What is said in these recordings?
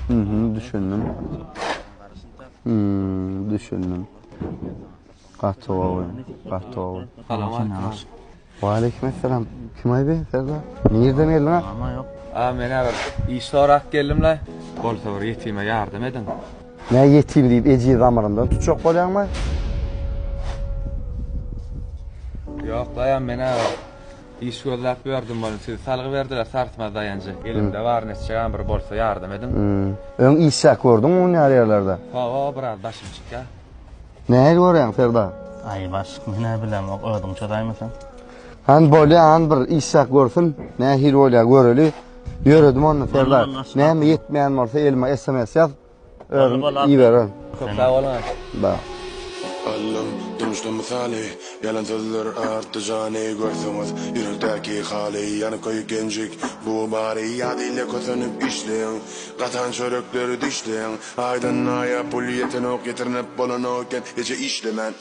Mhm, düşündim. Mhm, düşündim. Gaty gowy, gaty gowy. Salam aleykum. Wa aleykum assalam. Kim aýby? Serdar. Nirden geldiň? Ama yok. A men bir iş sorak geldim la. Bolsa bir yetime yardım edin. Ne yetim deyip eci zamarından tutacak bolyan mı? Yok la ya men Iş gözläp ýördüm welin sizi salgy berdiler sarsmaz daýanjy elimde bar nesjegam bir bolsa ýardam ediň. Öň işläp gördüňmi hünär ýerlerde? Hawa biraz başym çykýa. Nähili görýäň Serdar? Aý başlyk men hä bilemok özüň çözaýma sen. Hany bolýa hany bir işläp görsün nähili bolýa göreli. Ýöredim onda Serdar näme ýetmeýän bolsa elime sms ýaz. Özüm iberer. Köp sag boluň. Ba. Allym, durmuşda mysaly, Ýalan sözler artdy jany, Görseňiz ýürekdäki haly, Ýanyp köýük genjik bu bary, Ýat ile kösenip işleň, Gatan çörekleri dişleň, Aýdan aýa pul ýetenok, Ýetirnip bolanok eken, Gije işlemän.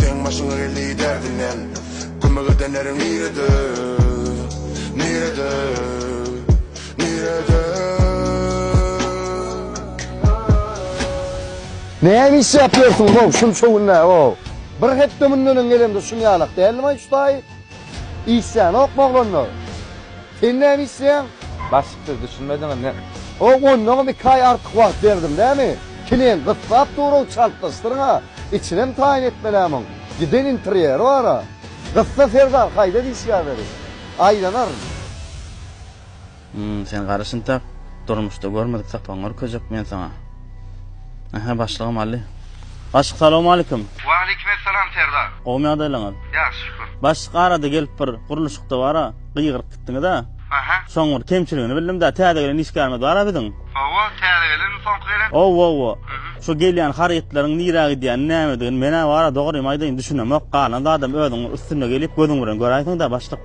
Seň başyňa geldi derdinden Kömek edenleriň nirede Nirede Nirede Näme iş ýapýorsyň how şunça günde how. Bir hepde mundan öň gelemde şuny ýalak däldim aý şu taýy. Işýänokmy oglanlar? Sen näme işleýäň? Başlyk-siz düşünmediňizmi? Ho, ondanam iki aý artyk wagt berdim näme? Kinem gyssap dur-ow, çaltlaşdyryň-a. Içinem taýyn etmelä muň. Giden interýeri bar-a. Gyssa, Serdar, haýda diýişýär weli. Aýlanaryn. Hum sen gary şintak durmuşda görmedik sapagyňy görkezjek men saňa. Aha başlygym Aly. Başlyk salowmalikim. Waleýkim essalam Serdar. Gowmy ýagdaýlaňyz? Ýagşy şükür. Başlyk arada gelip bir gurluşykda bara gygyryp gitdiňiza. Aha. Şoň bir kemçiligini bildim da täze gelen işgärimiz bara biziň. Hawa täze gelenmi soňky gelen? Ow ow ow. Şu gelýän harytlaryň nirä gidýänini nämedigini menä bara dogrymy aýdaýyn düşünemok galan zadam özüň üstünde gelip gözüň bilen göräýseňdä başlyk.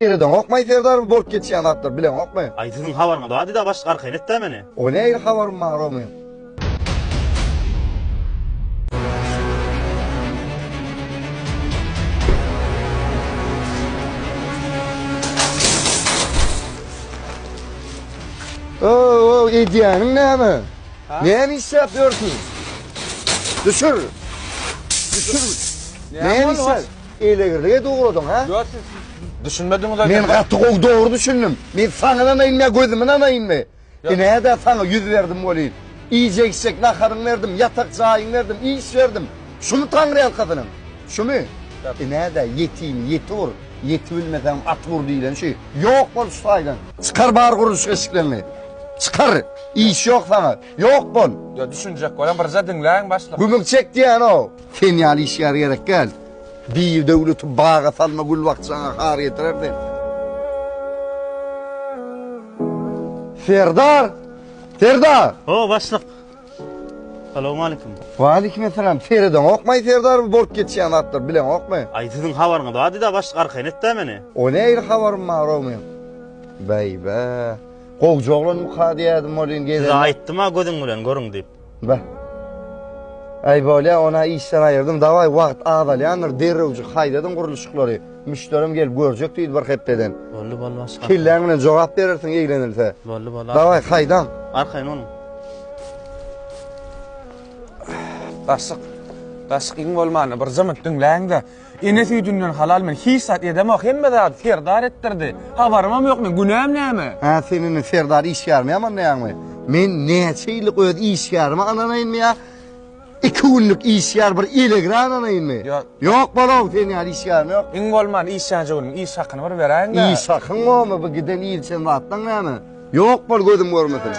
Eredeňokmaý Serdar bolup geçýän zatlar bileňokmy. Aý siziň habaryňyz bardy da başlyk arkaýyn etdä meni. O nähili habarym bar oňyn. Öööw edýäniň näme? Näme işläp ýörsüň? Düşür. Düşür. Näme işläp? Elegirlik edip ugradyň, ha? Ýok, siz düşünmediňiz. Men gaty gowy dogry düşündim. Men saňa nanaýynmy, gözüme nanaýynmy? Ine-de saňa ýüz berdim welin. Iýjek-içjek naharyňy berdim, ýatak jaýyňy berdim, iş berdim. Şumy taňryýalkasynyň? Şumy? Ine-de ýetimi ýeti ur. Ýek bilmeseňem at ur diýlen şu. Ýok bol şu taýdan. Çykar bar gurluş eşikleňi. Çykar. Iş ýok saňa. Ýok bol. Ýa düşünjek bolan birje diňläň başlyk. Gümüň çek diýýäno. Sen ýaly işgär gerek däl. Diýr döwleti baga salma gül bakjaňa har getirer sen. Serdar! Serdar! Ho, başlyk! Salowmalikim. Waleýkimessalam. Seredeňokmaý Serdar bu bolup geçýän zatlary bileňokmy? Aý siziň habaryňyz bardyda başlyk arkaýyn etdä meni. O nähili habarym barow meň? Beýbä. Gowja oglan buka diýýädim welin gezelenok. Size aýtdym-a gözüň bilen görüň diýip. Beh. Aý bolýa, ony-a işden aýyrdym. Dawaý wagt azalýandyr, derrewjik haýdadyň gurluşyklary. Müşderim gelip görjek diýdi bir hepdeden. Boldy boldy başga. Kelläň bilen jogap berersiň eglenilse. Boldy boldy. Daway haýdaň. Arkaýyn boluň. Gaşyk. Gaşyk iň bolmanda bir jymy diňläň-de. Ene süýdünden halal men hiç zat edemok. Hemme zady Serdar etdirdi. Habarymam ýok men. Günäm näme? Hä sen indi Serdar işgärimi ýamanlaýaňmy? Men näçe ýyllyk öz işgärime ynanaýynmy ýa Iki günlük işgär bir il egran alaýynmy? Ýok bol-ow, sen ýaly işgärim ýok. Iň bolman işlänje günüň iş hakyny bir beräýiň-dä. Iş hakyň gomy bu giden il sen zatlaň näme? Ýok bol gözüm görmesin.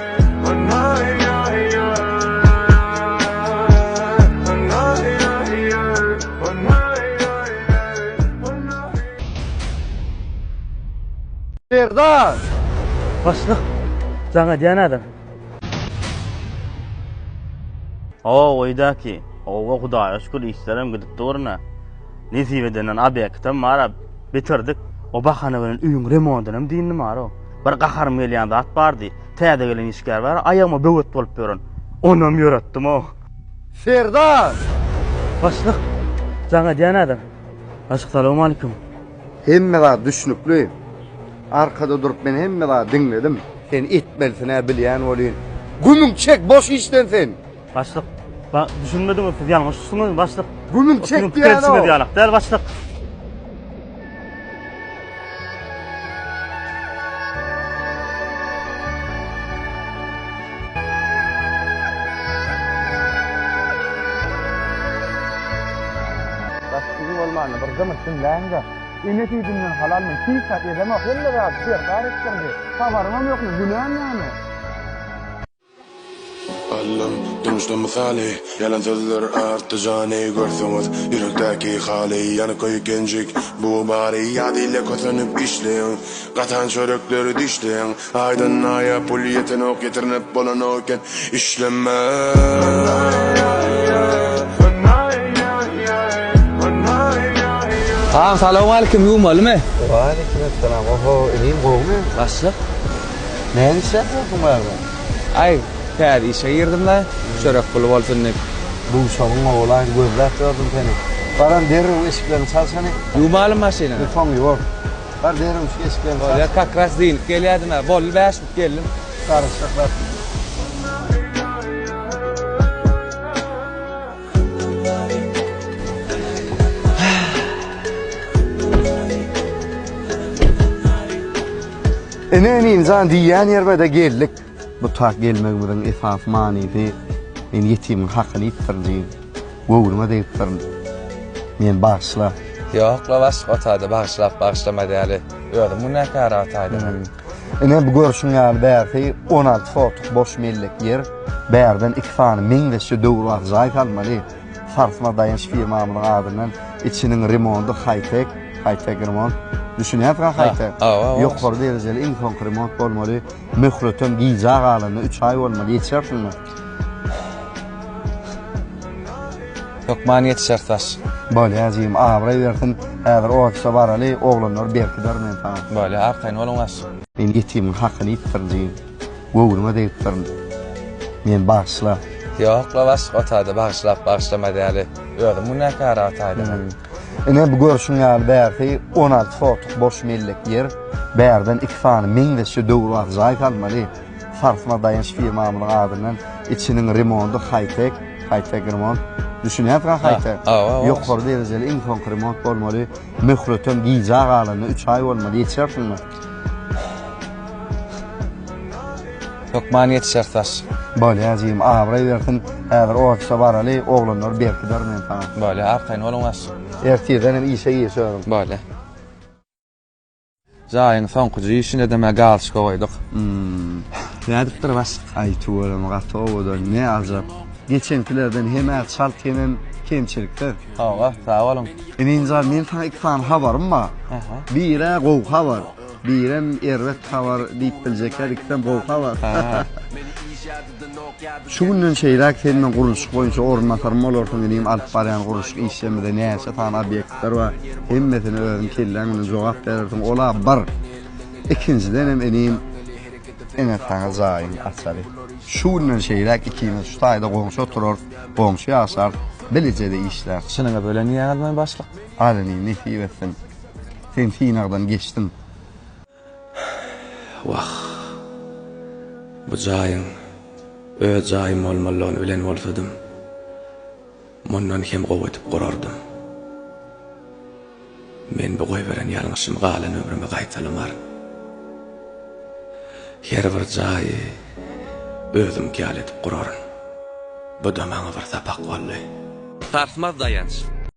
Serdar! Başlyk, jaň edýän adam. Ow öýdäki owa hudaýa şükür işlerem gidip durna. Nesip edenden obýektem bara bitirdik. O bahana bilen öýüň remontynam dyndy mara. Bir gaharym gelýän zat bardy. Täze gelen işgär bar, aýagyma böwet bolup ýören. Onam ýöretdim ow. Serdar! Başlyk! Jaň edýän ädim. Başlyk salowmalikim. Hemme zat düşnükli. Arkada durup men hemme zady diňledim. Sen etmelisinä bilýän bolýyn. Gümüň çek boş işden sen. Başlyk ba düşünmediňiz siz ýalňyş düşdüňiz başlyk. Gümüň çek diýýän o. Siziň pikirinçiňiz ýalak däl başlyk. Gaty bolmanda bir gymyş diňläýiň-de. Ene süýdünden halal men hiç zat edemok, hemme zady Serdar etdirdi. Habarymam ýokmy, günäm näme? Allam, durmuşda mysaly, Ýalan sözler artdy jany, Görseňiz ýürekdäki haly, Ýanyk köýük genjik bu bary, Ýadyle kösenip işleýin, Gatan çörekleri dişleýin. Aýdan naýa pul ýetenok ýetirnip bolanok eken işlemän. Agam salowmalikim ýuwmalymy. Waleýkim essalam oho inim gowmy. Başlyk. Näme işläp ýörsiň barada. Aý täze işe girdim la çörek puly bolsun diýip. Duşagyň gowulaýyn gözläp ýördüm seni. Baran derrew eşiklerini çalşany. Ýuwmalymy maşynyňy. Ýuwsaň ýuwar. Bar derin üç geçip geldi. Bar ya kak ras deyilip gelýärdim ya. Bolly bäş bit geldim. Sarışyk ras. Ene inim jan diýýän ýerime de geldik. Bu tak gelmegimiziň esasy manysy, men ýetimiň hakyny iýipdirin diýip, göwnüňe degipdirin. Meni bagyşla. Ýok-la, başlyk otady bagyşlap, bagyşlama däli. Özüm günäkär ataýdyň. Ine, bu görşüň ýaly bärsi on alty sotuk boş mellek ýer. Bärden iki sany meňzeşje döwrebap jaý salmaly. Sarsma Daýanç firmamyzyň adyndan içiniň remondy haý-tek, haý-tek remont. Düşünýärsiň-hä haý-tek? Ýokary derejeli iň soňky remont bolmaly. Möhletem gijä galanda üç aý bolmaly, ýetişersiňmi? Hökman ýetişeris, daş. Bolýar, jigim, abraý bersin. Häzir ofise baraly, oglanlary berkiderin men saňa. Bolýar, arkaýyn boluň, daş. Men ýetimiň hakyny iýipdirin, jigim. Göwnüňe degipdirin. Meni bagyşla. Ýok-la, başlyk otagda bagyşlap-bagyşlamaz ýaly. Özüm günäkär ataýdym. Ine bu görşüň ýaly bärsi on alty sotuk boş mellek ýer. Bärden iki sany meňzeşje döwrebap jaý salmaly. Sarsma daýanç firmamyzyň adyndan içiniň remondy haý-tek, high-tech remont. Düşünýärsiň-a haý-tek? Ýokary derejeli iň soňky remont bolmaly. Möhletem gijä galanda üç aý bolmaly. Ýetişersiňmi? Hökman ýetişer saç. Bolýa jigim abraý bersin häzir ofise baraly oglanlary berkiderin men saňa. Bolýa arkaýyn boluň daş. Ertirden hem işe gir şörüm. Bolýa. Jaýyň soňky işine de mä galçka goýduk. Nädipdir başlyk. Aý tüweleme gaty owadan ne ajap. Geçenkilerden hem-ä çalt hemem kemçiliksiz. Sagbol sagboluň. Ininjan men saňa iki sany habarym bar. Biri gowy habar. Birem erbet habar diýip biljekler ikisem gowy habar. Şu günden şeýläk sen meň gurluşyk boýunça orunbasarym bolarsyň inim alyp barýan gurluşyk işimizde näçe sany obýektler bar hemmesine özüň kelläň bilen jogap berersiň ola bir ikinjidenem inim ine saňa jaýyň açary şu günden şeýläk ikimiz şu taýda goňşy oturarys Goňşy ýaşap, bilijede işläp. Çynyňyz bilen diýýäňizmi, başlyk? Alyny nesip etsin. Sen synagdan geçdiň. Wah. Bu jaýyň öz jaýym bolmalygyny bilen bolsadym, mundan hem gowy edip gurardym. Men bu goýberen ýalňyşymy galan ömrüme gaýtalamaryn. Her bir jaýy özümki ýaly edip guraryn. Bu-da maňa bir sapak boldy. Sarsmaz daýanç.